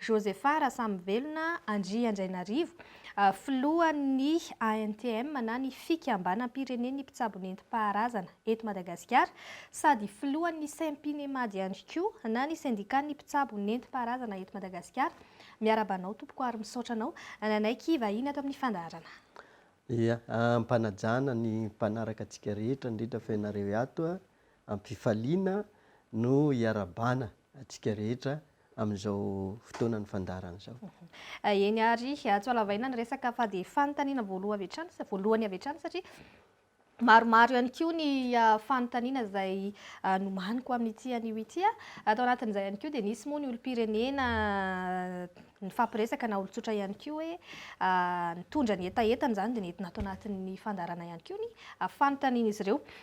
Josepha Rasamivelona Andriandrainarivo, filohan'ny ANTM na ny Fikambanam-pirenen'ny mpitsabo nentim-paharazana eto Madagasikara sady filohan'ny Sempinemaad ihany koa na ny sendikan'ny mpitsabo nentim-paharazana eto Madagasikara, miarahaba anao tompoko ary misaotra anao nanaiky hivahiny ato amin'ny fandaharana. Ia, am-panajana ny mpanaraka antsika rehetra indrindra fa ianareo ato, am-pifaliana no iarabana antsika rehetra. amin'izao fotoanan'ny fandaharana izao. Eny ary atsy Alavaina ny resaka fa dia fanontaniana voaloha avy hatrany, voalohany avy hatrany satria maromaro ihany koa ny fanontaniana izay nomaniko amin'ity anio ity. Tao anatin'izay ihany koa dia nisy moa ny olom-pirenena nifampiresaka na olon-tsotra ihany koa hoe nitondra ny hetahetany izany dia nentina ato anatin'ny fandaharana ihany koa ny fanontanian'izy ireo.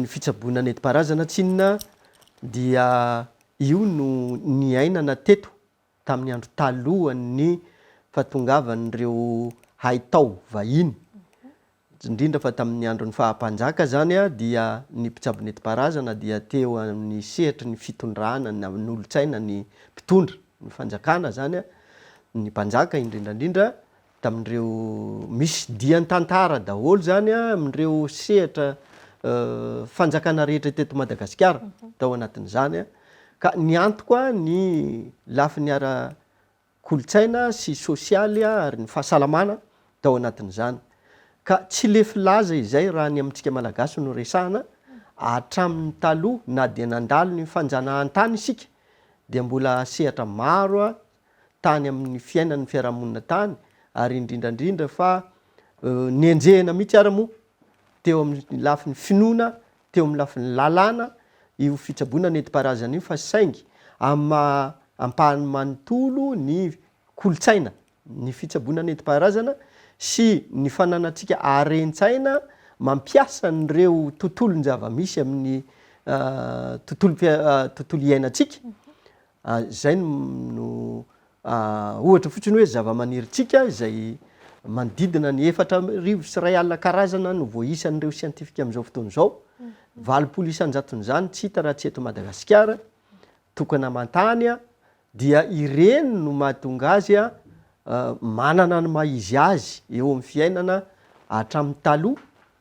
ny fitsaboana nentim-paharazana tsy inona dia io no niainana teto tamin'ny andro talohan'ny fahatongavan'ireo haitao vahiny, indrindra fa tamin'ny andron'ny faha-mpanjaka izany dia ny mpitsabo nentim-paharazana dia teo amin'ny sehatry ny fitondrana na ny olontsaina ny mpitondra ny fanjakana izany, ny mpanjaka indrindra indrindra tamin'ireo misy dian tantara daholo izany amin'ireo sehatra fanjakana rehetra teto Madagasikara tao anatin'izany ka niantoko ahy ny lafiny ara kolontsaina sy sosialy ary ny fahasalamana tao anatin'izany ka tsy lefy laza izay raha ny amintsika malagasy no resahana hatramin'ny taloha na dia nandalo ny fanjanahantany isika dia mbola sehatra maro tany amin'ny fiainan'ny fiarahamonina tany ary indrindra indrindra fa nenjehina mihitsy ara moa teo amin'ny lafiny finoana teo amin'ny lafiny lalàna io fitsaboana nentim-paharazana io fa saingy amin'ny maha ampahany manontolo ny kolontsaina ny fitsaboana nentim-paharazana sy ny fananantsika haren-tsaina mampiasa an'ireo tontolon-java-misy amin'ny tontolo tontolo iainantsika Izay no ohatra fotsiny hoe zava-manirintsika izay manodidina ny efatra arivo sy iray alina karazana no voaisan'ireo siantifika amin'izao fotoana izao. Valopolo isan-jaton'izany tsy hita raha tsy eto Madagasikara, tokana aman-tany, dia ireny no mahatonga azy manana ny maha-izy azy eo amin'ny fiainana hatramin'ny taloha.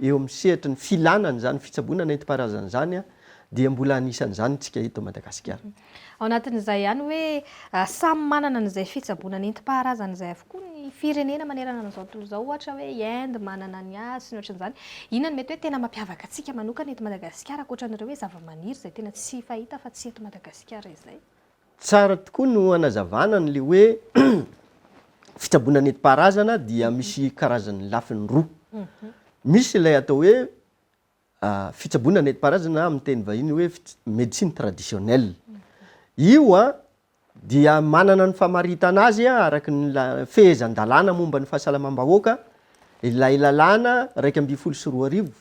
Eo amin'ny sehatry ny filàna an'izany fitsaboana nentim-paharazana izany dia mbola anisan'izany isika eto Madagasikara. Ao anatin'izay ihany hoe samy manana an'izay fitsaboana nentim-paharazana izay avokoa ny firenena manerana an'izao tontolo izao. Ohatra hoe i Inde manana ny azy sy ny ohatran'izany. Inona no mety hoe tena mampiavaka antsika manokana eto Madagasikara ankoatra an'ireo hoe zavamaniry izay tena tsy fahita afa-tsy eto Madagasikara izay? Tsara tokoa no anazavana an'le hoe fitsaboana nentim-paharazana dia misy karazany lafiny roa. Misy ilay atao hoe fitsaboana nentim-paharazana amin'ny teny vahiny hoe médecine traditionnelle. Io dia manana ny famaritana azy araka ny fehezan-dalàna momba ny fahasalamam-bahoaka, ilay lalàna iraika ambin'ny folo sy roa arivo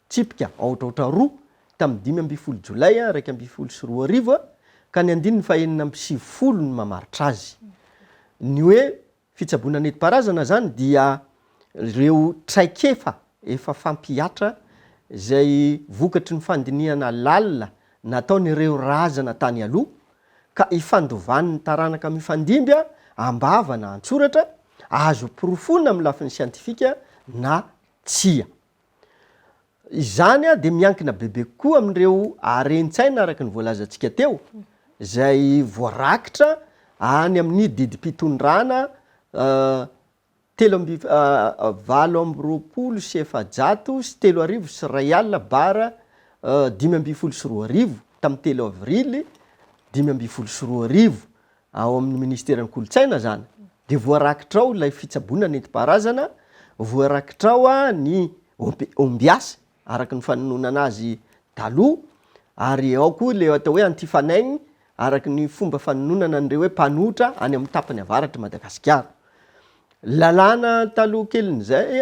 tsipika aotraotra roa tamin'ny dimy ambin'ny folo Jolay iraika ambin'ny folo sy roa arivo ka ny andininy fahenina amby sivifolo no mamaritra azy. Ny hoe fitsaboana nentim-paharazana izany dia ireo traikefa efa fampihatra izay vokatry ny fandinihana lalina nataon'ireo razana tany aloha ka ifandovan'ny taranaka mifandimby am-bava na an-tsoratra, azo porofoina amin'ny lafiny siantifika na tsia. Izany dia miankina bebe kokoa amin'ireo haren-tsaina araka ny voalazantsika teo, izay voarakitra any amin'ny didim-pitondrana telo amby valo amby roapolo sy efajato sy telo arivo sy iray alina bar dimy ambin'ny folo sy roa arivo, tamin'ny telo avrily dimy ambin'ny folo sy roa arivo. ao amin'ny ministeran'ny kolontsaina izany, dia voarakitra ao ilay fitsaboana nentim-paharazana, voarakitra ao ny ombiasy araka ny fanononana azy taloha, ary ao koa ilay atao hoe antifanegny araka ny fomba fanononana an'ireo hoe mpanohitra any amin'ny tapany avaratr'i Madagasikara. Lalàna taloha kelin'izay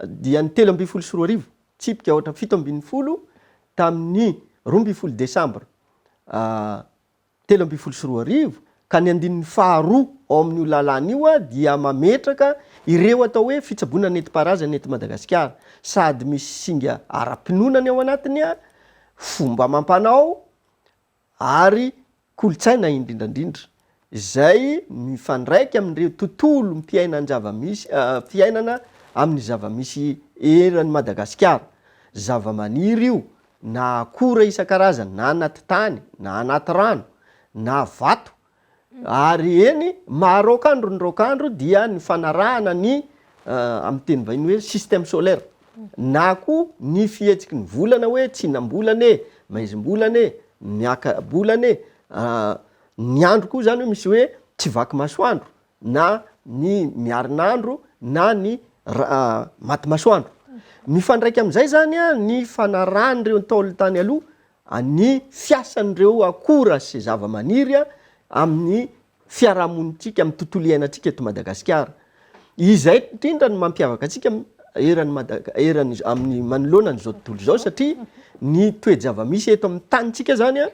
dia ny telo ambin'ny folo sy roa arivo, tsipika aotra fito ambin'ny folo tamin'ny roa ambin'ny folo desambra telo ambin'ny folo sy roa arivo, ka ny andininy faharoa ao amin'io lalàna io dia mametraka ireo atao hoe fitsaboana nentim-paharazana eto Madagasikara, sady misy singa ara-pinoana ny ao anatiny, fomba amam-panao ary kolontsaina indrindra indrindra, izay mifandraika amin'ireo tontolom-piainan-java-misy, fiainana amin'ny zava-misy eran'i Madagasikara, zavamaniry io, na akora isan-karazany na anaty tany na anaty rano na vato ary eny maha raokandro ny raokandro dia ny fanarahana ny amin'ny teny vahiny hoe système solaire na koa ny fihetsiky ny volana hoe tsinam-bolana e, maizim-bolana e, miaka-bolana e, ny andro koa izany hoe misy hoe tsy vaky masoandro na ny miarin'andro na ny maty masoandro. Mifandraika amin'izay izany ny fanarahan'ireo Ntaolo tany aloha ny fiasan'ireo akora sy zavamaniry amin'ny fiarahamonintsika, amin'ny tontolo iainantsika eto Madagasikara. Izay indrindra no mampiavaka antsika eran'i Madagasi- eran'ny amin'ny manoloana an'izao tontolo izao satria ny toe-javamisy eto amin'ny tanintsika izany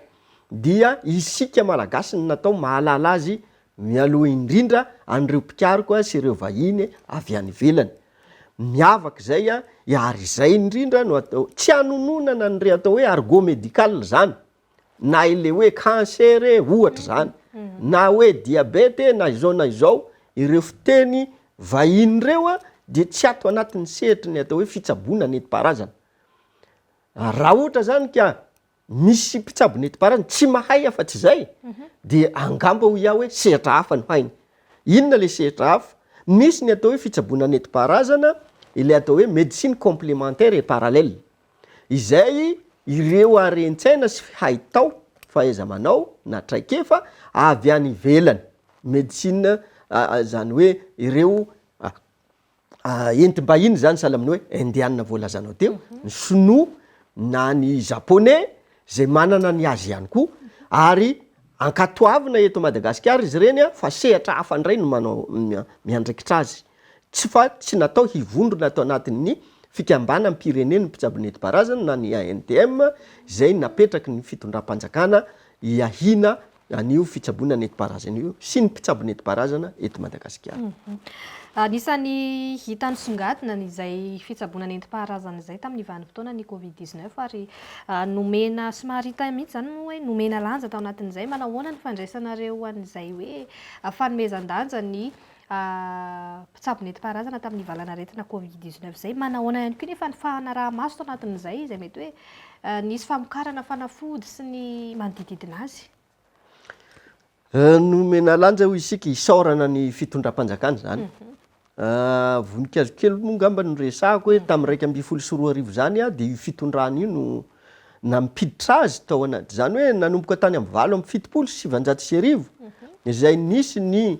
dia isika Malagasy no natao mahalala azy Mialoha indrindra an'ireo mpikaroko sy ireo vahiny avy any ivelany. Miavaka izay ary izay indrindra no atao, tsy hanononana an'ireo atao hoe argot médical izany, na ilay hoe cancer e, ohatra izany, na hoe diabeta e, na izao na izao, ireo fiteny vahiny ireo dia tsy ato anatin'ny sehatry ny atao hoe fitsaboana nentim-paharazana. Raha ohatra izany ka. misy mpitsabo netim-paharazana tsy mahay afa-tsy izay, dia angamba hoy aho hoe sehatra hafa no hainy. Inona ilay sehatra hafa? Misy ny atao hoe fitsaboana netim-paharazana, ilay atao hoe médecine complémentaire et parallèle, izay ireo haren-tsaina sy haitao, fahaiza-manao na traikefa avy any ivelany, médecine izany hoe ireo. entim-bahiny izany sahala amin'ny hoe indiana voalazanao teo, ny sinoa na ny japoney izay manana ny azy ihany koa ary ankatoavina eto Madagasikara izy ireny fa sehatra hafa indray no manao miandraikitra azy tsy fa tsy natao hivondrona ato anatin'ny fikambanam-pirenen'ny mpitsabo nentim-paharazana na ny ANTM izay napetraky ny fitondram-panjakana hiahiana an'io fitsaboana nenti-paharazana io sy ny mpitsabo nenti-paharazana eto Madagasikara. Anisan'ny hita nisongadina izay fitsaboana nenti-paharazana izay tamin'ny vanim-potoanan'ny Covid dix neuf ary nomena somary hita mihitsy izany moa hoe nomena lanja tao anatin'izay. Manao ahoana ny fandraisanareo an'izay hoe fanomezan-danja ny a Mpitsabo nentim-paharazana tamin'ny valanaretina Covid dix-neuf izay. Manahoana ihany koa nefa ny fanaraha-maso tao anatin'izay izay mety hoe nisy famokarana fanafody sy ny manodididina azy? Nomena lanja hoy isika isaorana ny fitondram-panjakana izany. Mhm. Voninkazo kely moa ngamba no resahako hoe tamin'ny raika ambin'ny folo sy roa arivo izany dia io fitondrana io no nampiditra azy tao anaty. Izany hoe nanomboka tany amin'ny valo amby fitopolo sy sivanjato sy arivo mhm. izay nisy ny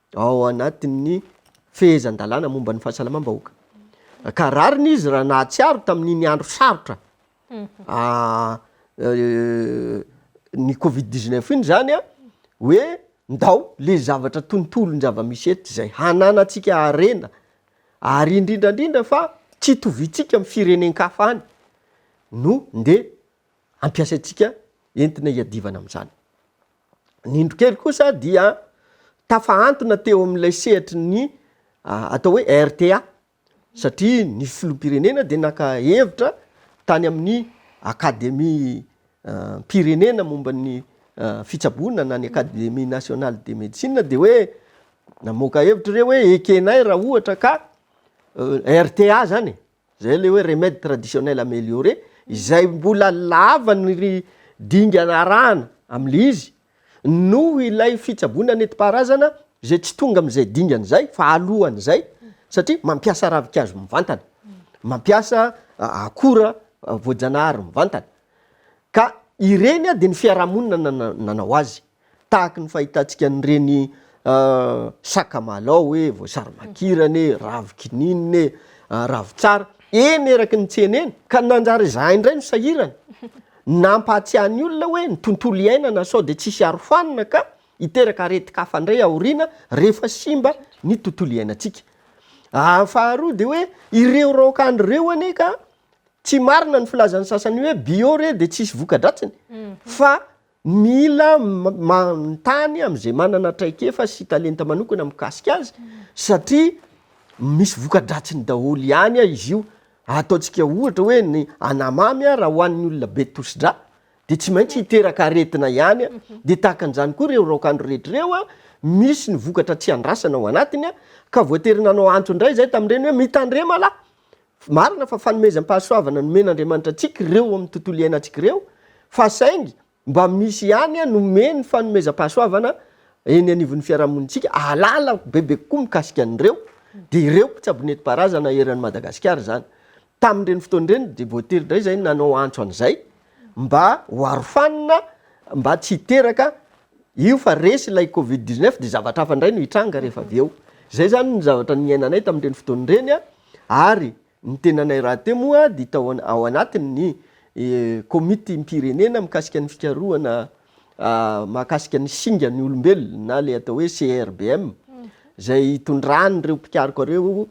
ao anatin'ny fehezan-dalàna momba ny fahasalamam-bahoaka. Ka rariny izy raha nahatsiaro tamin'iny andro sarotra ny covid dix neuf iny izany hoe ndao le zavatra tontolon-javamisy eto izay hananantsika harena ary indrindra indrindra fa tsy itoviantsika amin'ny firenen-kafa any no ndeha ampiasaintsika entina hiadivana amin'izany. Ny indro kely kosa dia tafahantona teo amin'ilay sehatry ny atao hoe RTA satria ny filoham-pirenena dia naka hevitra tany amin'ny akademiam-pirenena momba ny fitsaboana na ny academie nationale de médecine dia hoe namoaka hevitra ireo hoe ekenay raha ohatra ka RTA zany e! Zay ilay hoe remède traditionnel amélioré, izay mbola lava ny ry dingana arahana amin'ilay izy, noho ilay fitsaboana nentim-paharazana izay tsy tonga amin'izay dingana izay fa alohan'izay, satria mampiasa ravin-kazo mivantana, mampiasa akora voajanahary mivantana. Ka ireny dia ny fiarahamonina no nanao azy. Tahaka ny fahitantsika an'ireny sakamalao e, voasary makirana e, ravikininina e, ravitsara, eny eraky ny tsena eny, ka nanjary izahay indray no sahirana. Nampahatsiahy ny olona hoe ny tontolo iainana sao dia tsisy arofanina ka hiteraka aretin-kafa indray aoriana rehefa simba ny tontolo iainantsika. Faharoa dia hoe ireo raokandro ireo anie ka tsy marina ny filazan'ny sasany hoe bio re dia tsisy voka-dratsiny fa Mila manontany amin'izay manana traikefa sy talenta manokana mikasika azy satria misy voka-dratsiny daholo ihany izy io. Ataontsika ohatra hoe ny anamamy raha hohanin'ny olona be tosi-drà dia tsy maintsy hiteraka aretina ihany, dia tahaka an'izany koa ireo raokandro rehetra ireo, misy ny vokatra tsy andrasana ao anatiny ka voatery nanao antso indray izahay tamin'ireny hoe mitandrema lahy Marina fa fanomezam-pahasoavana nomen'Andriamanitra antsika ireo ao amin'ny tontolo iainantsika ireo, fa saingy mba misy ihany nomeny fanomezam-pahasoavana eny anivon'ny fiarahamonintsika, ahalala bebe kokoa mikasika an'ireo, dia ireo mpitsabo nentim-paharazana eran'i Madagasikara izany. Tamin'ireny fotoana ireny dia voatery indray izahay nanao antso an'izay mba ho arofanina mba tsy hiteraka io fa resy ilay covid dix-neuf dia zavatra hafa indray no hitranga rehefa avy eo. Izay izany ny zavatra niainanay tamin'ireny fotoana ireny. ary ny tenanay rahateo moa dia tao ao anatin'ny Komitim-pirenena mikasika ny fikarohana mahakasika ny singa ny olombelona na ilay atao hoe CRBM, izay itondran'ireo mpikaroka ireo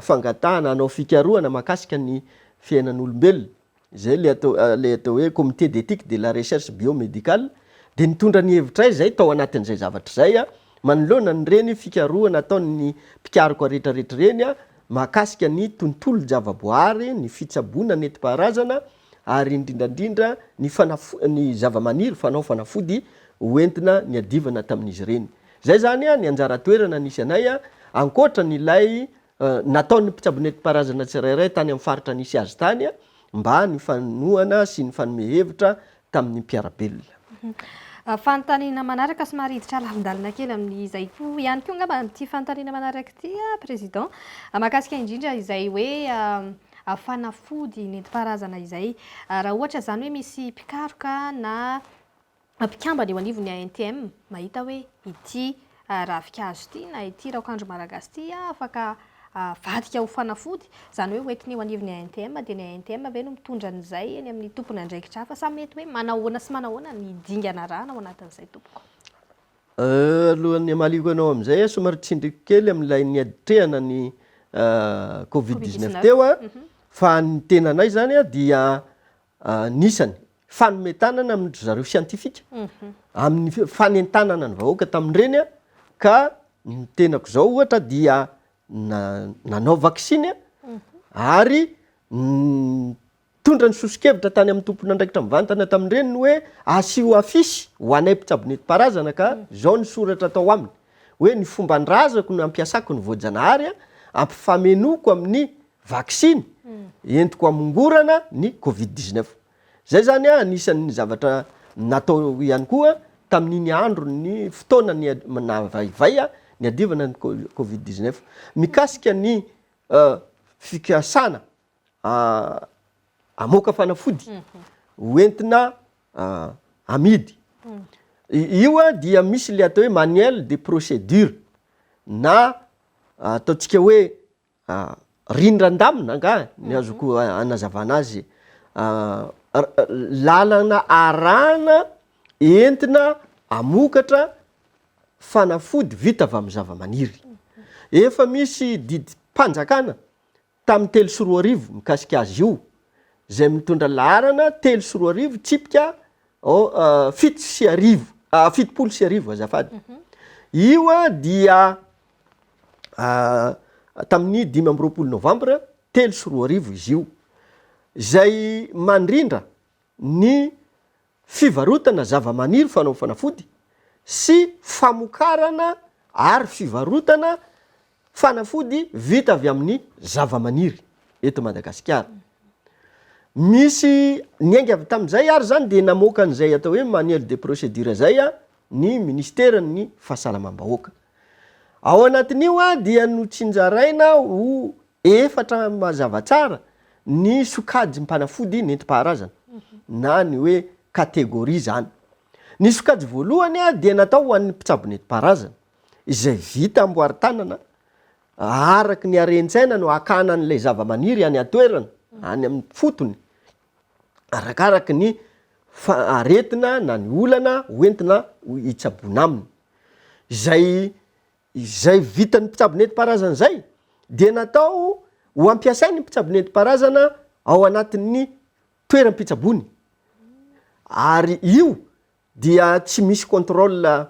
fangatahana hanao fikarohana mahakasika ny fiainan'olombelona. izay ilay atao ilay atao hoe comité d'éthique de la recherche biomédicale, dia nitondra ny hevitray izay tao anatin'izay zavatra izay aho, manoloana an'ireny fikarohana ataon'ny mpikaroka rehetrarehetra ireny aho mahakasika ny tontolon-javaboahary, ny fitsaboana nentim-paharazana ary indrindra indrindra ny fanafo ny zavamaniry fanao fanafody hoentina niadivana tamin'izy ireny. Izay izany ny anjara toerana nisy anay ankoatra an'ilay Nataon'ny mpitsabo nentim-paharazana tsirairay tany amin'ny faritra nisy azy tany mba ny fanohana sy ny fanome hevitra tamin'ny mpiara-belona. Fanontaniana manaraka somary hiditra lavon-dalana kely amin'izay koa ihany koa angamba ity fanontaniana manaraka ity Président, mahakasika indrindra izay hoe fanafody nentim-paharazana izay. Raha ohatra izany hoe misy mpikaroka na. mpikambana eo anivon'ny ANTM mahita hoe ity ravinkazo ity na ity raokandro Malagasy ity afaka avadika ho fanafody, izany hoe hoentina eo anivon'ny ANTM, dia ny ANTM ve no mitondra an'izay eny amin'ny tompon'andraikitra hafa sa mety hoe manahoana sy manahoana ny dingana arahana ao anatin'izay tompoko? Alohan'ny hamaliako anao amin'izay aho somary tsindriko kely amin'ilay niatrehana ny covid dix-neuf teo fa ny tenanay izany dia Anisany fanome tanana amin dry zareo siantifika amin ny fanentanana ny vahoaka tamin ireny ka ny tenako izao ohatra dia nanao vaksiny ary nitondra ny soso-kevitra tany amin ny tompon andraikitra mivantana tamin ireny ny hoe asio afisy ho anay mpitsabo nenti paharazana ka izao ny soratra atao aminy hoe ny fomban drazako no ampiasako ny voajanahary ampifamenoiko amin ny vaksiny entiko hamongorana ny covid dix neuf. Izay izany anisan'ny zavatra natao ihany koa tamin'iny andron'ny fotoana nahavaivay niadivana ny covid dix neuf. Mikasika ny fikasana hamoaka fanafody ho entina amidy, io dia misy ilay atao hoe manuel de procédure na ataontsika hoe Riny Randamina angaha ny azoko anazavana azy lalana arahana entina hamokatra fanafody vita avy amin'ny zavamaniry. Efa misy didim-panjakana tamin'ny telo sy roa arivo mikasika azy io izay mitondra laharana telo sy roa arivo tsipika fito sy arivo, fitopolo sy arivo azafady. Io dia tamin'ny dimy amby roapolo novambra telo sy roa arivo izy io, izay mandrindra ny fivarotana zavamaniry fanao fanafody sy famokarana ary fivarotana fanafody vita avy amin'ny zavamaniry eto Madagasikara. Misy niainga avy tamin'izay ary izany dia namoaka an'izay atao hoe manuel de procédure izay ny ministeran'ny fahasalamam-bahoaka. Ao anatin'io dia notsinjaraina ho efatra mazava tsara ny sokajim-panafody nentim-paharazana na ny hoe catégorie izany. Ny sokajy voalohany dia natao ho an'ny mpitsabo nentim-paharazana izay vita amboary tanana araka ny harentsaina no hakana an'ilay zavamaniry any an-toerana, any amin'ny fotony, arakaraky ny aretina na ny olana hoentina hitsaboana aminy. Izay izay vitan'ny mpitsabo nentim-paharazana izay dia natao ho ampiasain'ny mpitsabo nentim-paharazana ao anatin'ny toeram-pitsaboany ary io dia tsy misy contrôle.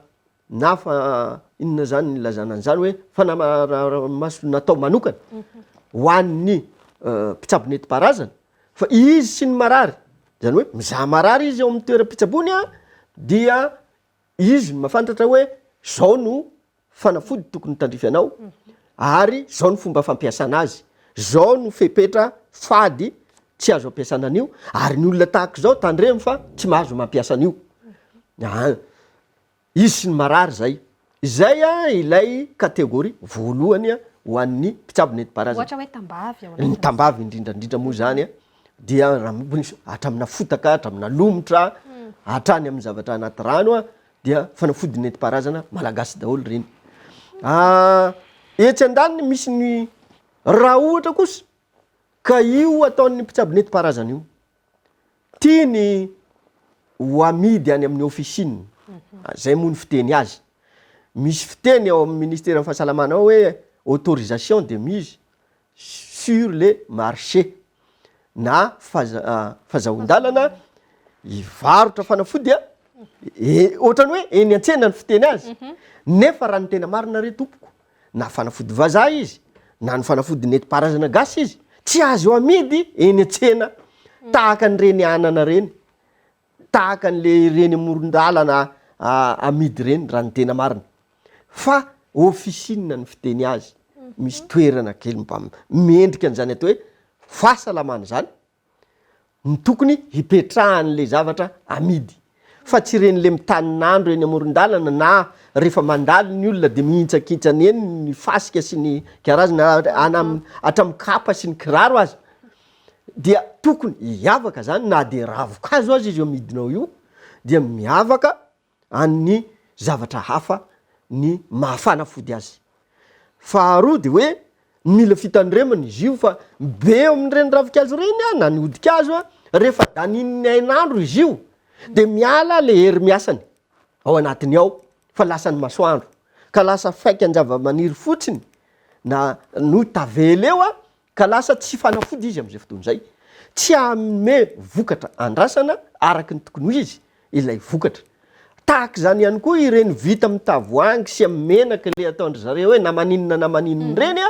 Na fa inona izany ilazana an'izany hoe fanamaraha-maso natao manokana ho an'ny mpitsabo nentim-paharazana fa izy sy ny marary, izany hoe mizaha marary izy ao amin'ny toeram-pitsaboany an, dia izy no mahafantatra hoe izao no fanafody tokony ho tandrify anao ary izao no fomba fampiasana azy, izao no fepetra fady tsy azo ampiasana an'io ary ny olona tahaka izao tandremo fa tsy mahazo mampiasa an'io. Hisy ny marary izay. Izay ilay catégorie voalohany ho an'ny mpitsabo nentim-paharazana. Ohatra hoe tambavy ao anatin'izany. Ny tambavy indrindra indrindra moa izany dia hatramina fotaka, hatramina lomotra, hatrany amin'ny zavatra anaty rano dia fanafody nentim-paharazana malagasy daholo ireny. Etsy andaniny misy ny raha ohatra kosa ka io ataon'ny mpitsabo nentim-paharazana io. tiany ho amidy any amin'ny officine, izay moa ny fiteny azy. Misy fiteny ao amin'ny ministeran'ny fahasalamana ao hoe autorisation de mise sur le marché na fazahoan-dalana hivarotra fanafody ohatran'ny hoe eny an-tsena ny fiteny azy nefa raha ny tena marina re tompoko, Na fanafody vazaha izy, na ny fanafody nentim-paharazana gasy izy, tsy azo amidy eny an-tsena tahaka an'ireny anana ireny, tahaka an'ilay ireny amoron-dalana amidy ireny raha ny tena marina. Fa officine ny fiteny azy, misy toerana kely mba mendrika an'izany atao hoe fahasalamana izany, no tokony hipetrahan'le zavatra amidy fa tsy ireny le mitanin'andro eny amoron-dalana na rehefa mandalo ny olona de mihintsakintsana eny ny fasika sy ny karazana hatramin'ny kapa sy ny kiraro aza dia tokony hiavaka zany na de ravin-kazo aza izy amidinao io dia miavaka an'ny zavatra hafa ny maha-fanafody azy. Faharoa dia hoe mila fitandremana izy io fa be eo amin'ireny ravinkazo ireny na ny hodi-kazo rehefa danihin'ny hainandro izy io dia miala ilay hery miasany ao anatiny ao fa lasan'ny masoandro ka lasa faikan-javamaniry fotsiny na no tavela eo ka lasa tsy fanafody izy amin'izay fotoana izay, tsy hanome vokatra andrasana araka ny tokony ho izy ilay vokatra. Tahaka izany ihany koa ireny vita amin'ny tavoahangy sy amin'ny menaka ilay ataon-dry zareo hoe na maninona na maninona ireny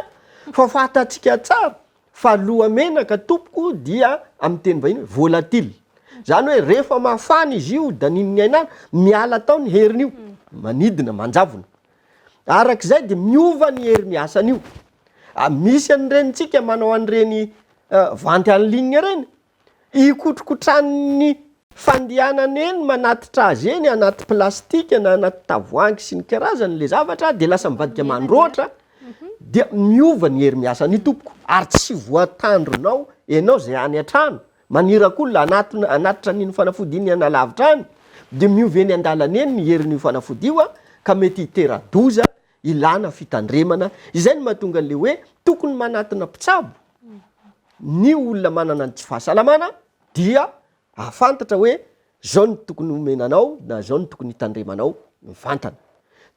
fa fantatsika tsara fa lohamenaka tompoko dia amin'ny teny vahiny hoe volatile. Izany hoe rehefa mafana izy io daninin'ny hainala, miala tao ny heriny io, manidina, manjavona. Araka izay dia miova ny herin'ny asan'io. Misy an'irenintsika manao an'ireny vente en ligne ireny, ikotrokotranin'ny fandehanany eny manatitra azy eny anaty plastika na anaty tavoahangy sy ny karazany ilay zavatra dia lasa mivadika mandroatra dia miova ny hery miasan'io tompoko ary tsy voatandronao ianao izay any an-trano Maniraka olona hanatitra an'iny fanafody iny any alavitra any, dia miova eny an-dalana eny ny herin'io fanafody io, ka mety hitera-doza, ilana fitandremana. Izay no mahatonga an'ilay hoe tokony manatona mpitsabo ny olona manana ny tsy fahasalamana, dia ahafantatra hoe izao no tokony homena anao na izao no tokony hitandremanao mivantana.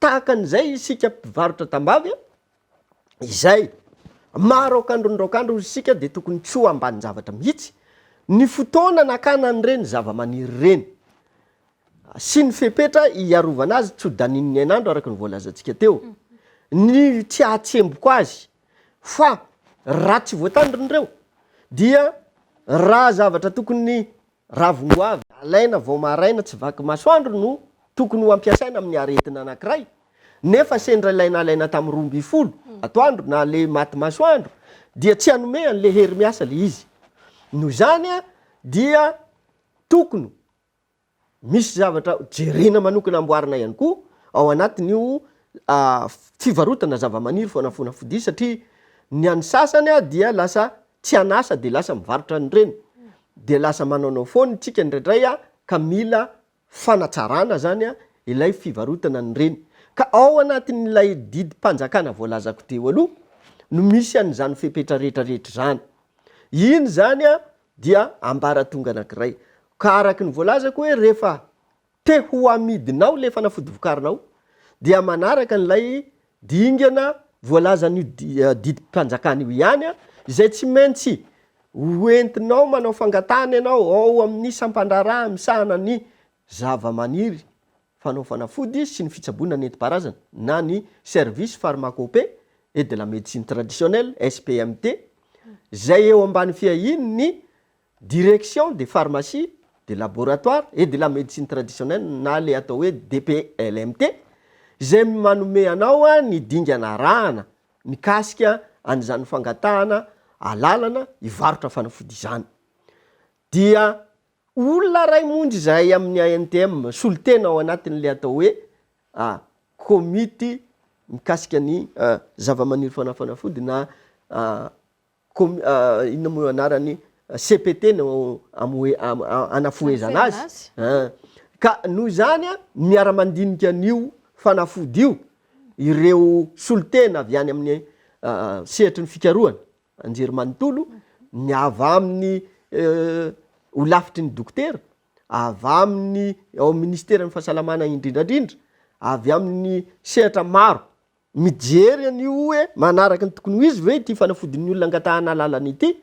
Tahaka an'izay isika mpivarotra tambavy, izay maha raokandron'ny raokandro hozy isika dia tokony tsy ho ambanin-javatra mihitsy ny fotoana nakana an'ireny zava-maniry ireny sy ny fepetra hiarovana azy tsy ho daninin'ny hainandro araka ny voalazantsika teo ny tsy hahatsemboko azy fa raha tsy voatandrina ireo dia raha zavatra tokony Ravin-goavy alaina vao maraina tsy vaky masoandro no tokony ho ampiasaina amin'ny aretina anankiray, nefa sendra ilay nalaina tamin'ny roa ambin'ny folo atoandro na ilay maty masoandro dia tsy hanome an'ilay hery miasa ilay izy. Noho izany dia tokony misy zavatra jerena manokana amboarina ihany koa ao anatin'io fivarotana zavamaniry fanafona fodia satria ny an'ny sasany dia lasa tsy an'asa dia lasa mivarotra an'ireny, dia lasa manaonao foana isika indraindray ka mila fanatsarana izany ilay fivarotana an'ireny. Ka ao anatin'ilay didim-panjakana voalazako teo aloha no misy an'izany fepetra rehetrarehetra izany. Iny izany dia ambaratonga anankiray. Ka araka ny voalazako hoe rehefa te ho amidinao ilay fanafody vokarinao dia manaraka an'ilay dingana voalazan'io didim-panjakana io ihany izay tsy maintsy hoentinao manao fangatahana ianao ao amin'ny sampan-draharaha misahana ny zava-maniry fanao fanafody sy ny fitsaboana nentim-paharazana na ny Service Pharmacopée et de la Médecine Traditionnelle, SPMT, izay eo ambany fiahian'ny Direction de pharmacie, de laboratoire et de la médecine traditionnelle na le atao hoe DPLMT izay manome anao ny dingana arahana mikasika an'izany fangatahana alalana hivarotra fanafody izany. Dia olona iray monja izahay amin'ny ANTM solontena ao anatin'ilay atao hoe komity mikasika ny zavamaniry fanafanafody na com inona moa io anarany cpt no amohe anafohezana azy an! ka noho izany an miara-mandinika an'io fanafody io ireo solontena avy any amin'ny sehatry ny fikarohana anjerimanontolo ny avy amin'ny holafitry ny dokotera avy amin'ny ao ministeran'ny fahasalamana indrindrandrindra avy amin'ny sehatra maro Mijery an'io hoe manaraka ny tokony ho izy ve ity fanafodin'ny olona angatahana alalana ity,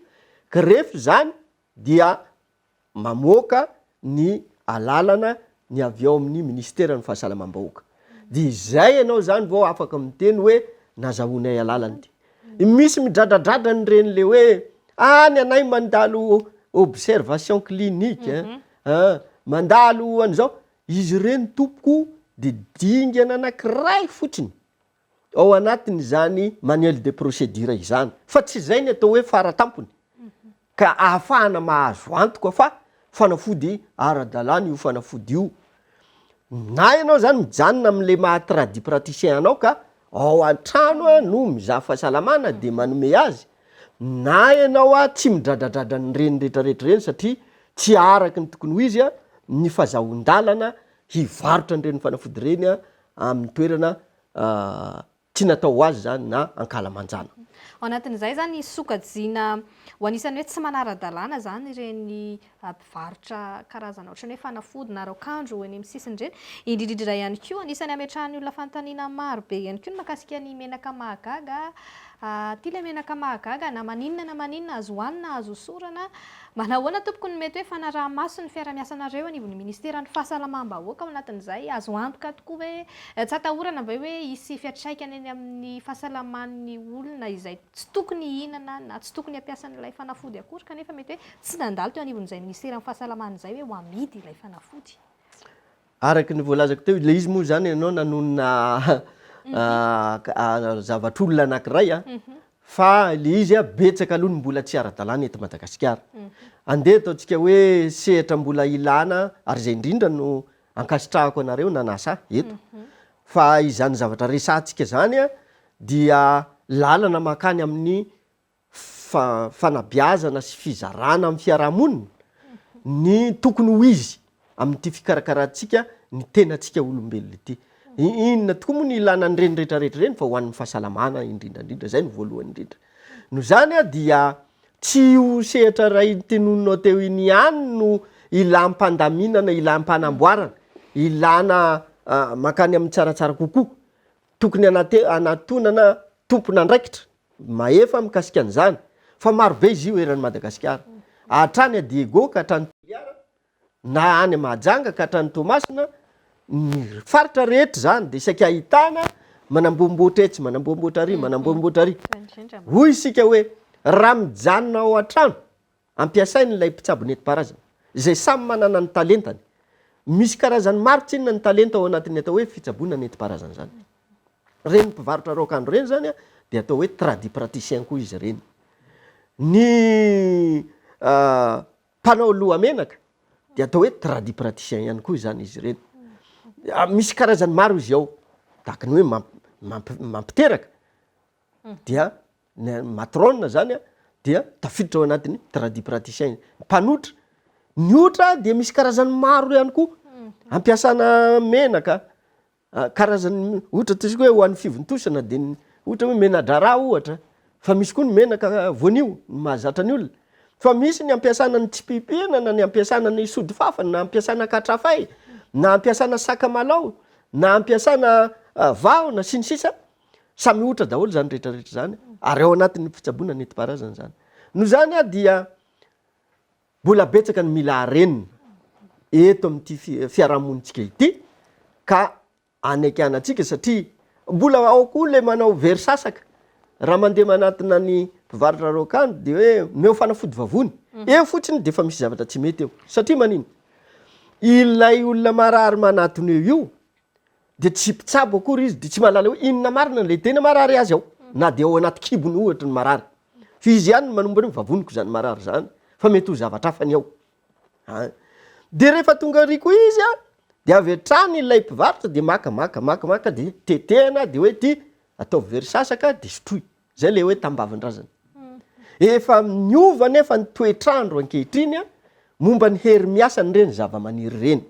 ka rehefa izany dia mamoaka ny alalana ny avy ao amin'ny Minisiteran'ny Fahasalamam-bahoaka. Dia izay ianao izany vao afaka miteny hoe nazahoanay alalana ity. Misy midradradradra an'ireny ilay hoe ah ny anay mandalo observation clinique, mandalo an'izao. Izy ireny tompoko dia dingana anankiray fotsiny ao anatin'izany manuel de procédure izany fa tsy izay ny atao hoe fara tampony ka ahafahana mahazo antoka fa fanafody ara-dalàna io fanafody io. Na ianao izany mijanona amin'ilay maha tradipraticien anao ka ao antrano a no mizaha fahasalamana de manome azy na ianao a tsy midradradradra an'ireny retraretra ireny satria tsy araky ny tokony ho izy a ny fazahoan-dalana hivarotra an'ireny fanafody ireny a amin'ny toerana a tsy natao ho azy izany na ankalamanjana. Ao anatin'izay izany sokajiana ho anisan'ny hoe tsy manara-dalàna izany ireny mpivarotra karazana ohatran'ny hoe fanafody na raokandro eny amin'ny sisiny ireny, indrindra indrindra ihany koa. Anisan'ny hametrahan'ny olona fanontaniana maro be ihany koa ny mahakasika ny menaka mahagaga. Aty ilay menaka mahagaga, na maninona na maninona, azo hohanina, azo hosorana. Manahoana tompoko no mety hoe fanaraha-maso ny fiaraha-miasanareo anivon'ny minisiteran'ny fahasalamam-bahoaka ao anatin'izay? Azo antoka tokoa ve, tsy atahorana ve hoe hisy fiantraikany eny amin'ny fahasalaman'ny olona izay tsy tokony hihinana na tsy tokony hampiasa an'ilay fanafody akory kanefa mety hoe tsy nandalo teo anivon'izay minisiteran'ny fahasalamana izay hoe ho amidy ilay fanafody. Araka ny voalazako teo, ilay izy moa izany ianao nanonona zavatr'olona anankiray fa ilay izy betsaka aloha ny mbola tsy ara-dalàna eto Madagasikara. Andeha ataontsika hoe sehatra mbola ilàna ary izay indrindra no Ankasitrahako anareo nanasa ahy eto fa izany zavatra resahantsika zany dia lalana makany amin'ny fanabeazana sy fizarana amin'ny fiarahamonina ny tokony ho izy amin'ity fikarakarantsika ny tenantsika olombelona ity. Inona tokoa moa no ilana an'ireny retraretra ireny fa ho an'ny fahasalamana indrindrandrindra, zay no voalohany indrindra. Noho izany dia Tsy io sehatra iray notenoninao teo iny ihany no ilam-pandaminana, ilam-panamboarana, ilana mankany amin'ny tsaratsara kokoa. Tokony hanate- hanatonana tompon'andraikitra mahefa mikasika an'izany, fa marobe izy io eran'i Madagasikara, hatrany à Diego ka hatrany Toliara, na any Mahajanga ka hatrany Toamasina, ny faritra rehetra izany dia saika ahitana manamboamboatra etsy, manamboamboatra ary, manamboamboatra ary. Hoy isika hoe raha mijanona ao an-trano, ampiasaina ilay mpitsabo nentim-paharazana, izay samy manana ny talentany. Misy karazany maro tsinona ny talenta ao anatin'ny atao hoe fitsaboana nentim-paharazana izany. Ireny mpivarotra raokandro ireny izany dia atao hoe tradipraticien koa izy ireny. Ny mpanao lohamenaka dia atao hoe tradipraticiens ihany koa izany izy ireny. Misy karazany maro izy ao, tahaka ny hoe mamp- mamp- mampiteraka, dia ny matrona zany a, dia tafiditra ao anatin'ny tradipraticiens. Mpanotra, ny otra dia misy karazany maro ihany koa, ampiasana menaka, Karazany ohatra ataontsika hoe ho an'ny fivontosana dia ny ohatra hoe mena-draharaha ohatra fa misy koa ny menaka voanio ny mahazatra ny olona fa misy ny ampiasana ny tsipipihana na ny ampiasana ny sodifafana na ampiasana katrafay na ampiasana sakamalaho na ampiasana vahona sy ny sisa samy ohatra daholo izany rehetrarehetra izany ary ao anatin'ny fitsaboana nentim-paharazana izany noho izany dia Mbola betsaka ny mila harenina eto amin'ity fiarahamonintsika ity ka anekana antsika satria mbola ao koa ilay manao very sasaka. Raha mandeha manatona ny mpivarotra raokandro dia hoe omeo fanafody vavony. Mhm. Eo fotsiny dia efa misy zavatra tsy mety eo. Satria manino? Ilay olona marary manatona eo io dia tsy mpitsabo akory izy dia tsy mahalala hoe inona marina ilay tena marary azy ao. Mhm. Na dia ao anaty kibony ohatra ny marary. Fa izy ihany no manombo an'io, vavoniko izany marary izany, fa mety ho zavatra hafa ny ao an! Dia rehefa tonga ery koa izy an, dia avy hatrany ilay mpivarotra dia maka maka maka maka dia tetehana dia hoe ity ataovy very sasaka dia sotroy, izay ilay hoe tambavin-drazana. Efa niova anefa ny toetr'andro ankehitriny an, momba ny hery miasan'ireny zavamaniry ireny.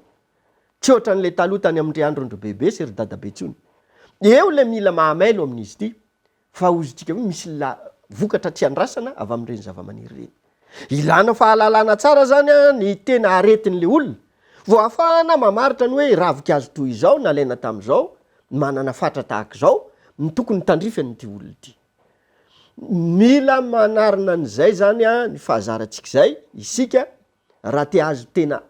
Tsy ohatran'ilay taloha tany amin-dry andron-dry bebe sy ry dadabe intsony. Eo ilay mila maha mailo amin'izy ity, Fa hozontsika hoe misy la vokatra tsy andrasana avy amin'ireny zavamaniry ireny. Ilana fahalalana tsara izany ny tena aretin'ilay olona. Vao ahafahana mamaritra ny hoe ravinkazo toy izao nalaina tamin'izao, manana fatra tahaka izao, no tokony tandrify an'ity olona ity. Mila manarina an'izay izany ny fahazarantsika izay isika raha te ahazo tena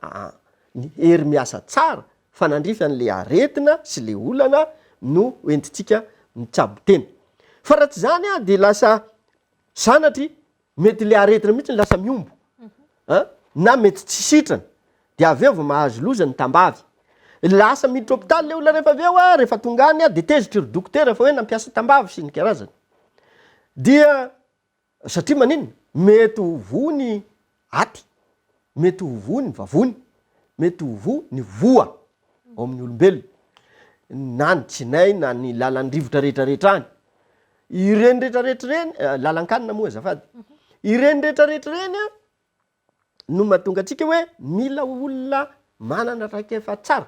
ny hery miasa tsara fa nandrify an'le aretina sy le olana no entintsika mitsabo tena fa raha tsy zany an de lasa sanatry mety le aretina mihitsy no lasa mihombo an na mety tsy sitrana de avy eo vao mahazo loza ny tambavy lasa miditra hopitaly le olona rehefa avy eo an rehefa tonga any an de tezitry ry dokotera fa hoe nampiasa tambavy sy ny karazany dia Satria maninona? Mety ho voa ny aty, mety ho voa ny vavony, mety ho voa ny voa ao amin'ny olombelona, na ny tsinay na ny lalan'ny rivotra rehetrarehetra any. Ireny rehetrarehetra ireny, lalan-kanina moa azafady, ireny rehetrarehetra ireny no mahatonga antsika hoe mila olona manana traikefa tsara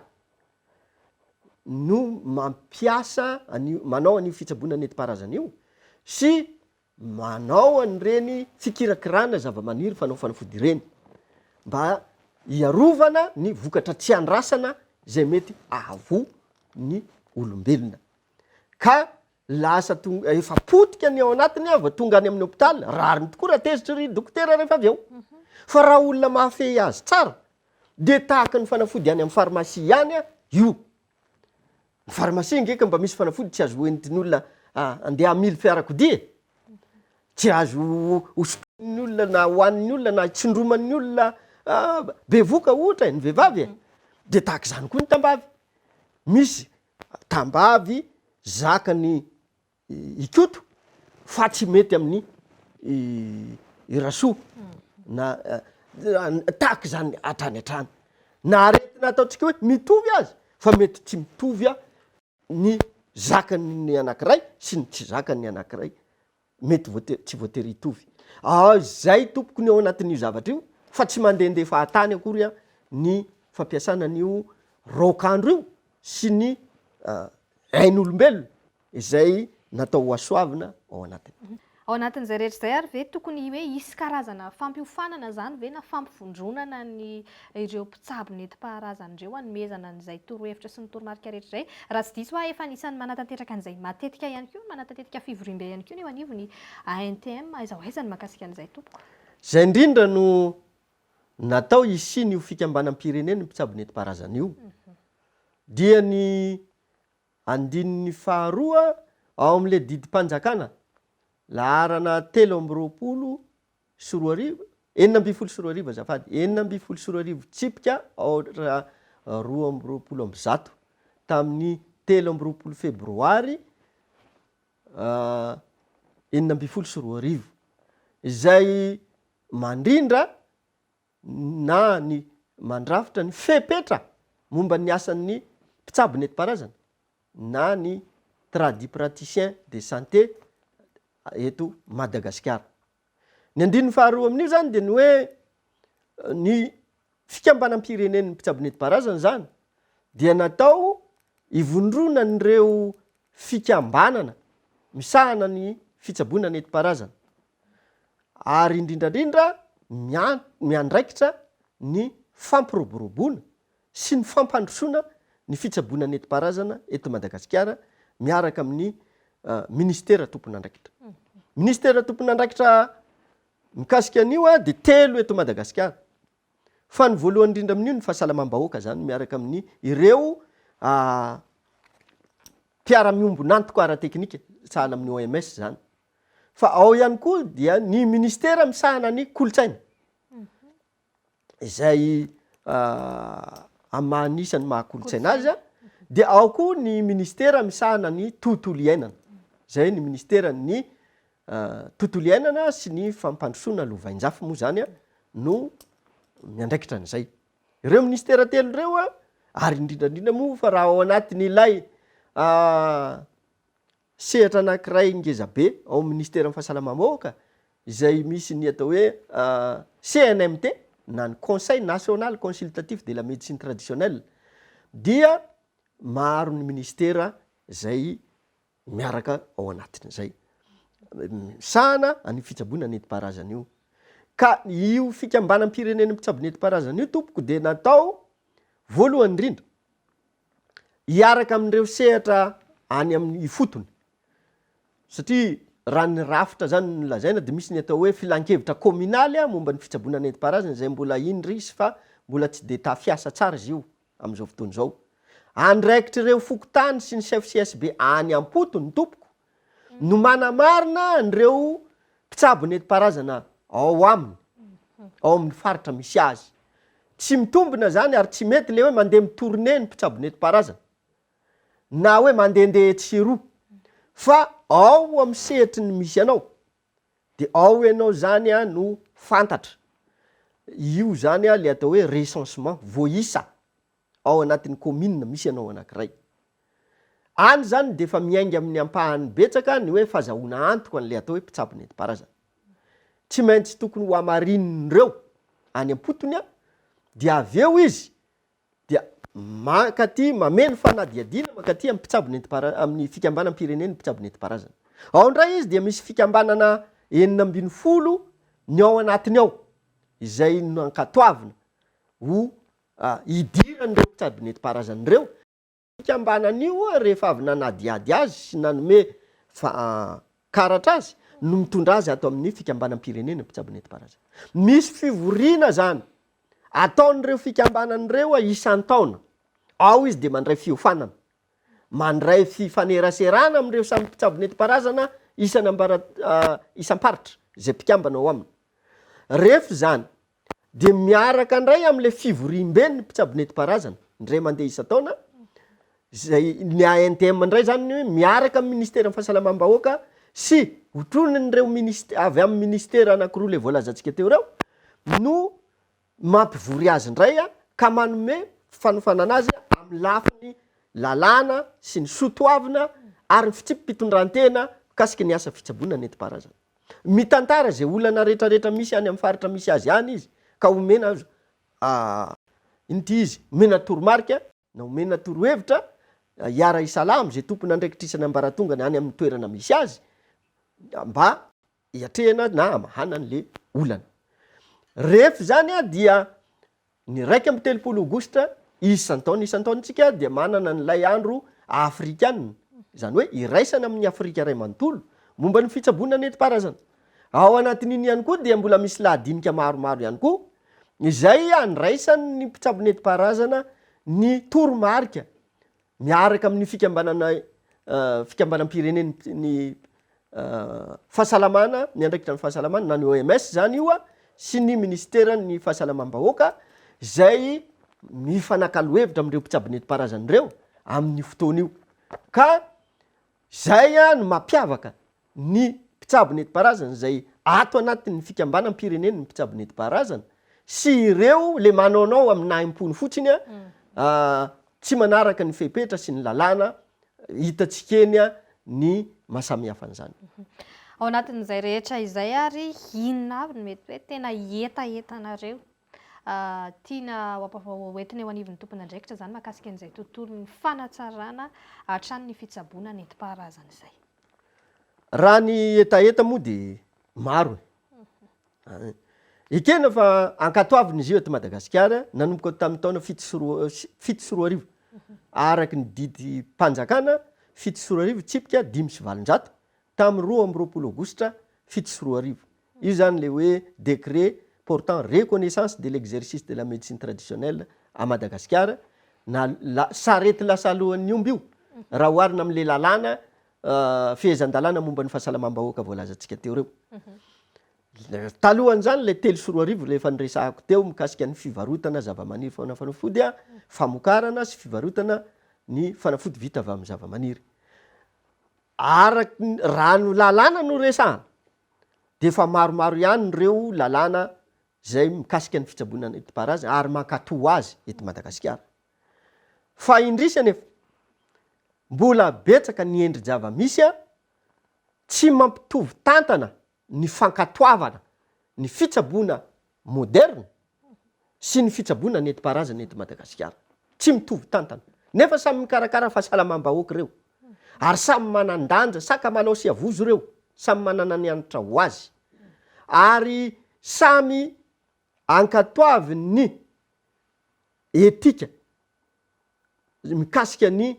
no mampiasa an'io, manao an'io fitsaboana nentim-paharazana io sy manao an'ireny fikirakirana zava-maniry fanao fanafody ireny mba hiarovana ny vokatra tsy andrasana izay mety ahavoa ny olombelona ka Lasa tonga, efa potika ny ao anatiny an, vao tonga any amin'ny hopitaly, rariny tokoa raha tezitra ry dokotera rehefa avy eo. Fa raha olona mahafehy azy tsara, dia tahaka ny fanafody any amin'ny pharmacie ihany an, io. Ny pharmacie nge ka mba misy fanafody tsy azo entin'ny olona handeha hamily fiarakodia e! Tsy azo hosotroin'ny olona na hohanin'ny olona na hitsindroman'ny olona bevoka ohatra e, ny vehivavy e! Dia tahaka izany koa ny tambavy. Misy tambavy zakan'i Ikoto fa tsy mety amin'i Rasoa na tahaka izany hatrany hatrany na aretina ataontsika hoe mitovy aza fa mety tsy mitovy ny zakan'ny anankiray sy ny tsy zakan'ny anankiray. Mety voate- tsy voatery hitovy. Ao izay tompoko ny ao anatin'io zavatra io fa tsy mandehandeha fahatany akory an ny fampiasana an'io raokandro io sy ny ain'olombelona izay natao hohasoavina ao anatiny. Ao anatin'izay rehetra izay ary ve tokony hoe hisy karazana fampiofanana izany ve na fampivondronana ny ireo mpitsabo nentim-paharazana ireo hanomezana an'izay torohevitra sy ny toromarika rehetra izay. Raha tsy diso aho, efa anisan'ny manatanteraka an'izay matetika ihany koa, manatantetika fivoriambe ihany koa ny eo anivon'ny ANTM. Aiza ho aiza ny mahakasika an'izay tompoko? Izay indrindra no natao hisian'io fikambanam-pirenen'ny mpitsabo nentim-paharazana io, dia ny andininy faharoa ao amin'ilay didim-panjakana laharana telo amby roapolo sy roa arivo, enina ambin'ny folo sy roa arivo azafady, enina ambin'ny folo sy roa arivo tsipika aotra roa amby roapolo amby zato tamin'ny telo amby roapolo febroary enina ambin'ny folo sy roa arivo izay mandrindra na ny mandrafitra ny fepetra momba ny asan'ny mpitsabo nentim-paharazana na ny tradipraticiens de santé eto Madagasikara. Ny andininy faharoa amin'io izany dia ny hoe ny fikambanam-pirenen'ny mpitsabo nentim-paharazana izany dia natao ivondronan'ireo fikambanana misahana ny fitsaboana nentim-paharazana ary indrindra indrindra ny an, miandraikitra ny fampiroboroboana sy ny fampandrosoana ny fitsaboana nentim-paharazana eto Madagasikara miaraka amin'ny Ministera tompon'andraikitra. Ministera tompon'andraikitra mikasika an'io dia telo eto Madagasikara. Fa ny voalohany indrindra amin'io ny fahasalamam-bahoaka izany miaraka amin'ny ireo mpiara-miombon'antoka ara-teknika sahala amin'ny OMS izany. fa ao ihany koa dia ny ministera misahana ny kolontsaina izay amin'ny maha anisan'ny maha kolontsaina azy dia ao koa ny ministera misahana ny tontolo iainana izay ny ministeran'ny tontolo iainana sy ny fampandrosoana lovainjafy moa izany an no miandraikitra an'izay ireo ministera telo ireo an ary indrindrandrindra moa fa raha ao anatin'ilay Sehatra anankiray ngeza be ao amin'ny Minisiteran'ny Fahasalamam-bahoaka izay misy ny atao hoe CNMT na ny Conseil National Consultatif de la Médecine Traditionnelle dia maro ny Minisitera izay miaraka ao anatin'izay misahana an'io fitsaboana nentim-paharazana io. Ka io Fikambanam-pirenen'ny Mpitsabo Nentim-paharazana io tompoko dia natao voalohany indrindra, hiaraka amin'ireo sehatra any amin'ny ifotony satria raha ny rafitra zany no lazaina dia misy ny atao hoe filankevitra kaominaly momba ny fitsaboana nentim-paharazana izay mbola indrisy fa mbola tsy dia tafiasa tsara izy io amin'izao fotoana izao. Andraikitr'ireo fokontany sy ny chef CSB any am-potony tompoko no manamarina an'ireo mpitsabo nentim-paharazana ao aminy, ao amin'ny faritra misy azy. Tsy mitombina izany ary tsy mety ilay hoe mandeha mi-tournée ny mpitsabo nentim-paharazana na hoe mandehandeha etsy sy eroa fa ao amin'ny sehatry ny misy anao dia ao ianao izany no fantatra. Io izany ilay atao hoe recensement, voaisa. ao anatin'ny kaominina misy anao anankiray. Any izany dia efa miainga amin'ny ampahany betsaka ny hoe fazahoana antoka an'ilay atao hoe mpitsabo nentim-paharazana. Tsy maintsy tokony hohamarinin'ireo any am-potony dia avy eo izy dia mankaty mameno fanadihadiana mankaty amin'ny mpitsabo nentim-paharazana, amin'ny fikambanam-pirenen'ny mpitsabo nentim-paharazana. Ao indray izy dia misy fikambanana enina ambin'ny folo ny ao anatiny ao izay nankatoavina ho hidiran'ireo mpitsabo nentim-paharazana ireo. Io fikambanana io, rehefa avy nanadihady azy sy nanome karatra azy no mitondra azy ato amin'ny fikambanam-pirenena mpitsabo nentim-paharazana. Misy fivoriana izany ataon'ireo fikambanana ireo isan-taona. Ao izy dia mandray fiofanana, mandray fifaneraserana amin'ireo samy mpitsabo nentim-paharazana isan'ambara isam-paritra izay mpikambana ao aminy. Rehefa izany Dia miaraka indray amin'ilay fivoriambe ny mpitsabo nentim-paharazana, indray mandeha isan-taona, izay ny ANTM indray izany no miaraka amin'ny Ministeran'ny fahasalamam-bahoaka sy otronin'ireo ministe- avy amin'ny ministera anankiroa ilay voalazantsika teo ireo no mampivory azy indray ka manome fanofanana azy amin'ny lafiny lalàna sy ny soa toavina ary ny fitsipi-pitondrantena mikasika ny asa fitsaboana nentim-paharazana. Mitantara izay olana retraretra misy any amin'ny faritra misy azy any izy ka omena azo inty izy, omena toromarika na omena torohevitra hiara-hisalahy amin'izay tompon'andraikitrisany ambaratongany any amin'ny toerana misy azy mba hiatrehana na hamahana an'le olana. Rehef zany dia Ny iraika amby telopolo aogositra isan-taona isan-taona isika dia manana an'ilay andro afrikana, izany hoe iraisana amin'ny Afrika iray manontolo, momba ny fitsaboana nentim-paharazana. Ao anatin'iny ihany koa dia mbola misy lahadinika maromaro ihany koa izay andraisan'ny mpitsabo nentim-paharazana ny toromarika Miaraka amin'ny fikambanana fikambanam-pirenen'ny fahasalamana, miandraikitra ny fahasalamana na ny OMS izany io sy ny minisiteran'ny fahasalamam-bahoaka izay mifanakalo hevitra amin'ireo mpitsabo nentim-paharazana ireo amin'ny fotoana io ka Izay no mampiavaka ny mpitsabo netimpaharazana izay ato anatin'ny fikambanam-pirenen'ny mpitsabo netimpaharazana sy ireo le manaonao amin'ny nahim-pony fotsiny tsy manaraka ny fepetra sy ny lalàna hitantsika eny ny mahasamihafa an'izany. Ao anatin'izay rehetra izay ary inona avy no mety hoe tena ietahetanareo? Tiana ho ampahoentina eo anivon'ny tompon'andraikitra izany mahakasika an'izay tontolon'ny fanatsarana hatrany ny fitsaboana nentim-paharazana izay. Raha ny hetaheta moa dia maro e. An. Ekena fa ankatoavina izy io eto Madagasikara nanomboka tamin'ny taona fito sy roa fito sy roa arivo. Araka ny didim-panjakana fito sy roa arivo tsipika dimy sy valonjato tamin'ny roa amby roapolo aogositra fito sy roa arivo. Io zany le hoe décret portant reconnaissance de l'exercice de la médecine traditionnelle à Madagasikara na la sarety lasa alohan'ny omby io raha oharina amin'le lalàna fehezan-dalàna momba ny fahasalamam-bahoaka voalazantsika teo reo. Talohan'izany le telo sy roa arivo le efa niresahako teo mikasika ny fivarotana zava-maniry faona fanafody a, famokarana sy fivarotana ny fanafody vita avy amin'ny zava-maniry. Araky ny, raha ny lalàna no resahana, dia efa maromaro ihany ireo lalàna izay mikasika ny fitsaboana nentim-paharazana ary mankatò azy eto Madagasikara. Fa indrisy anefa, mbola betsaka ny endri-java-misy tsy mampitovy tantana ny fankatoavana ny fitsaboana moderina sy ny fitsaboana nentim-paharazana eto Madagasikara. Tsy mitovy tantana. Nefa samy mikarakara fahasalamam-bahoaka ireo. Ary samy manan-danja, sakamalao sy havozo ireo. Samy manana ny hanitra ho azy. Ary samy ankatoavin' ny etika mikasika ny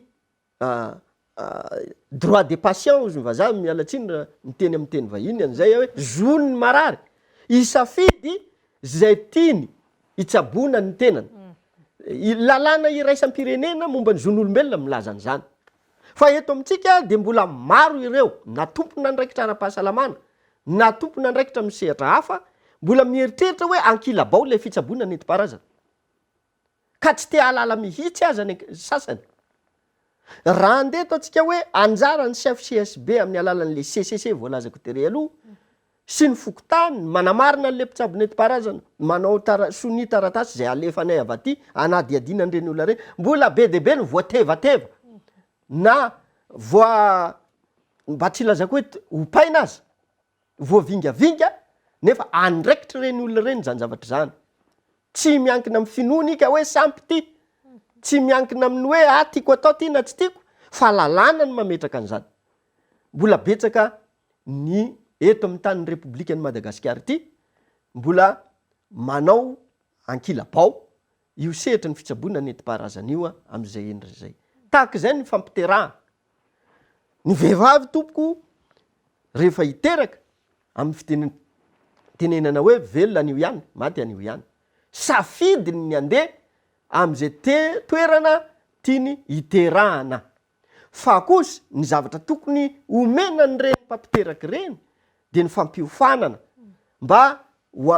droit de patient ozy ny vazaha, miala tsiny raha miteny amin'ny teny vahiny an'izay aho, hoe zony ny marary hisafidy izay tiany hitsaboana ny tenany. Lalàna iraisam-pirenena momba ny zon'olombelona milaza an'izany. Fa eto amintsika dia mbola maro ireo na tompon'andraikitra ara-pahasalamana na tompon'andraikitra amin'ny sehatra hafa mbola mieritreritra hoe ankilabao ilay fitsaboana nentim-paharazana. ka tsy te hahalala mihitsy aza ny sasany. Raha handeha eto antsika hoe anjaran'ny chef CSB amin'ny alalan'ilay CCC voalazako tery aloha sy ny fokontany manamarina an'ilay mpitsabo nentim-paharazana manao tara, sonia taratasy izay alefanay avy aty hanadihadiana an'ireny olona ireny, mbola be dia be ny voatevateva na voa, mba tsy hilazako hoe ompaina aza. voavingavinga nefa andraikitry ireny olona ireny izany zavatra izany. Tsy miankina amin'ny finoany ika hoe sampy ity, tsy miankina amin'ny hoe ah tiako atao ity na tsy tiako fa lalàna no mametraka an'izany. Mbola betsaka ny eto amin'ny tanin'ny Repoblikan'i Madagasikara ity mbola manao ankilabao io sehatry ny fitsaboana nentim-paharazana io amin'izay endriny izay. Tahaka izay ny fampiterahana. Ny vehivavy tompoko rehefa hiteraka, amin'ny fiteny tenenana hoe velona anio ihany, maty anio ihany. Safidiny ny handeha amin'izay te toerana tiany hiterahana. Fa kosa ny zavatra tokony omena an'ireny mpampiteraka ireny dia ny fampiofanana mba ho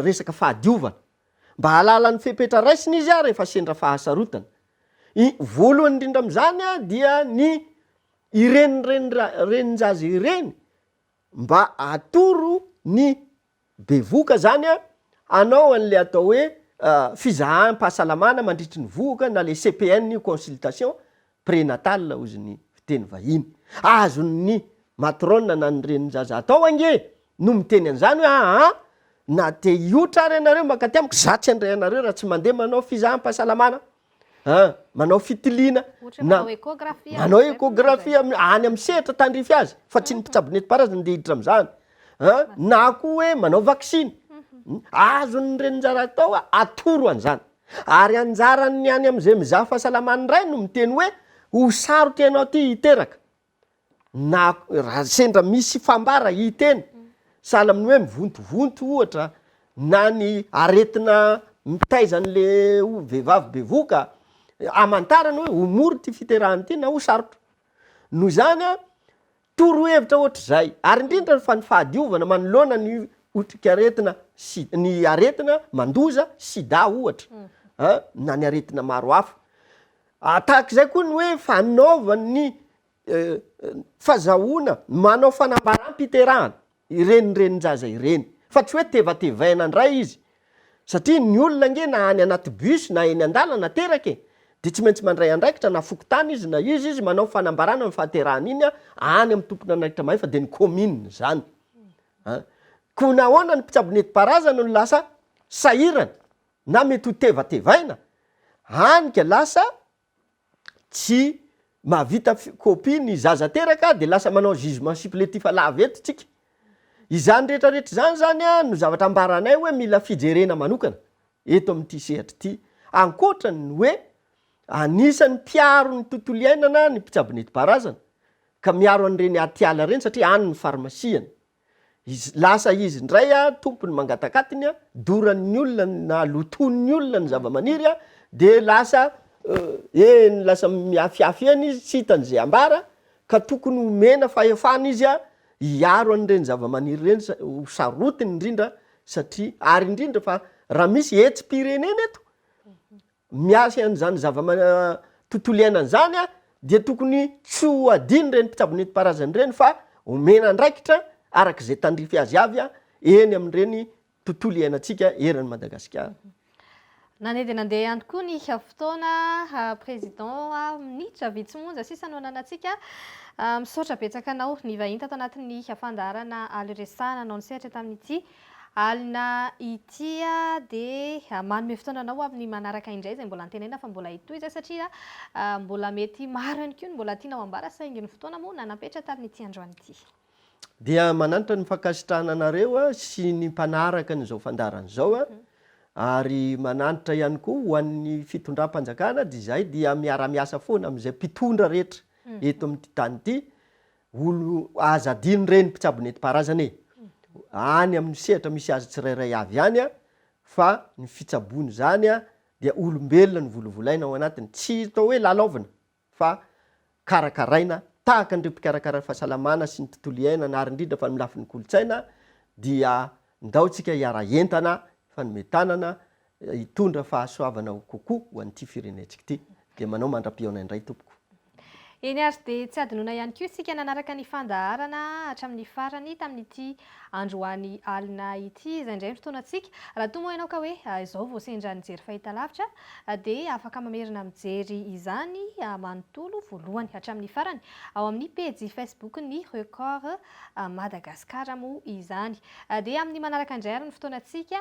resaka fahadiovana. Mba hahalala ny fepetra raisina izy rehefa sendra fahasarotana. I, voalohany indrindra amin'izany dia ny ireny renin-jaza ireny mba atoro ny bevohoka izany hanao an'ilay atao hoe fizaham-pahasalamana mandritry ny vohoka na ilay CPN io, consultation, Prénatal hozy ny fiteny vahiny. Azon' ny matrona na ny renin-jaza atao ange no miteny an'izany hoe aa na te hiotra ary ianareo mankaty amiko za tsy handray anareo raha tsy mandeha manao fizaham-pahasalamana a manao fitiliana na manao échographie any amin'ny sehatra tandrify azy fa tsy ny mpitsabo nentim-paharazana ndeha hiditra amin'izany a na koa hoe manao vaksiny. Azon' ny renin-jaza atao atoro an'izany. Ary anjaran ny any amzay mizaha fahasalamana indray no miteny hoe ho sarotra ianao ty hiteraka na ra sendra misy fambara hiteny sahala aminy hoe mivontovonto ohatra na ny aretina mitaiza any le vehivavy bevoka amantarany hoe ho mora ty fiterahana ty na ho sarotra noho izany an Torohevitra ohatr'izay, ary indrindra fa ny fahadiovana manoloana ny otrikaretina si-, ny aretina mandoza, sida ohatra, a, na ny aretina maro hafa. A, tahaka izay koa ny hoe fanaovan'ny, e, e, fazahoana manao fanambaràm-piterahana. ireny renin-jaza ireny fa tsy hoe tevatevaina ndray izy satria ny olona ange na any anaty bus na eny an-dalana teraka e! dia tsy maintsy mandray andraikitra na fokontany izy na izy izy manao fanambarana ny fahaterahany iny any amin'ny tompon'andraikitra mahefa dia ny commune izany an! koa nahoana ny mpitsabo netim-paharazana no lasa sahirana na mety ho tevatevaina hany ka lasa tsy mahavita copie ny zaza teraka dia lasa manao jugement supplétif lava eto tsika. Izany rehetra rehetra izany zany no zavatra ambaranay hoe mila fijerena manokana eto amin'ity sehatra ity ankoatra ny hoe anisan'ny mpiaro ny tontolo iainana ny mpitsabo nentim-paharazana ka miaro an'ireny atiala ireny satria any ny farmasiany. Izy, lasa izy indray a, tompony mangatakatiny a, doran'ny olona na lotoin'ny olona ny zavamaniry a, dia lasa eny, lasa mihafihafy eny izy, tsy hitany izay hambara, ka tokony homena fahefana izy a, hiaro an'ireny zavamaniry ireny sa- ho sarotiny indrindra satria, ary indrindra fa raha misy hetsi-pirenena eto, miasa an'izany zava-tontolo iainana izany dia tokony tsy ho adinon'ireny mpitsabo nentim-paharazana ireny fa omena andraikitra araka izay tandrify azy avy eny amin'ireny tontolo iainantsika eran'i Madagasikara. Nandeha dia nandeha ihany koa ny fotoana, Président a, minitra vitsy monja sisa no ananantsika. Misaotra betsaka anao nivahiny tato anatin'ny fandaharana Aly Resaha nanao ny sehatra tamin'ity. Alina ity dia manome fotoana anao ho amin'ny manaraka indray izay mbola antenaina fa mbola hitohy izay satria mbola mety maro ihany koa ny mbola tianao ambara saingy ny fotoana moa nanapetra tamin'ity androany ity. Dia manantra ny fankasitrahana anareo sy ny mpanaraka an'izao fandaharana izao ary manantra ihany koa ho an'ny fitondram-panjakana dia izahay dia miara-miasa foana amin'izay mpitondra rehetra eto amin'ity tany ity Olo aza adino reny mpitsabo nentim-paharazana e! any amin'ny sehatra misy azy tsirairay avy ihany fa ny fitsaboana izany dia olombelona novolovolaina ao anatiny, tsy atao hoe lalaovina fa karakaraina tahaka an'ireo mpikarakara ny fahasalamana sy ny tontolo iainana ary indrindra fa ny lafiny kolontsaina dia ndao tsika hiara-entana hifanome tanana hitondra fahasoavana ho kokoa ho an'ity firenentsika ity. Dia manao mandra-pihaona indray tompoko. Eny ary dia tsy hadinoina ihany koa isika nanaraka ny fandaharana hatramin'ny farany tamin'ity androany alina ity izay indray ny fotoanantsika. Raha toa moa ianao ka hoe izao vao sendra nijery fahitalavitra dia afaka mamerina mijery izany manontolo voalohany hatramin'ny farany ao amin'ny pejy Facebook ny Record Madagascar moa izany. Dia amin'ny manaraka indray ary ny fotoanantsika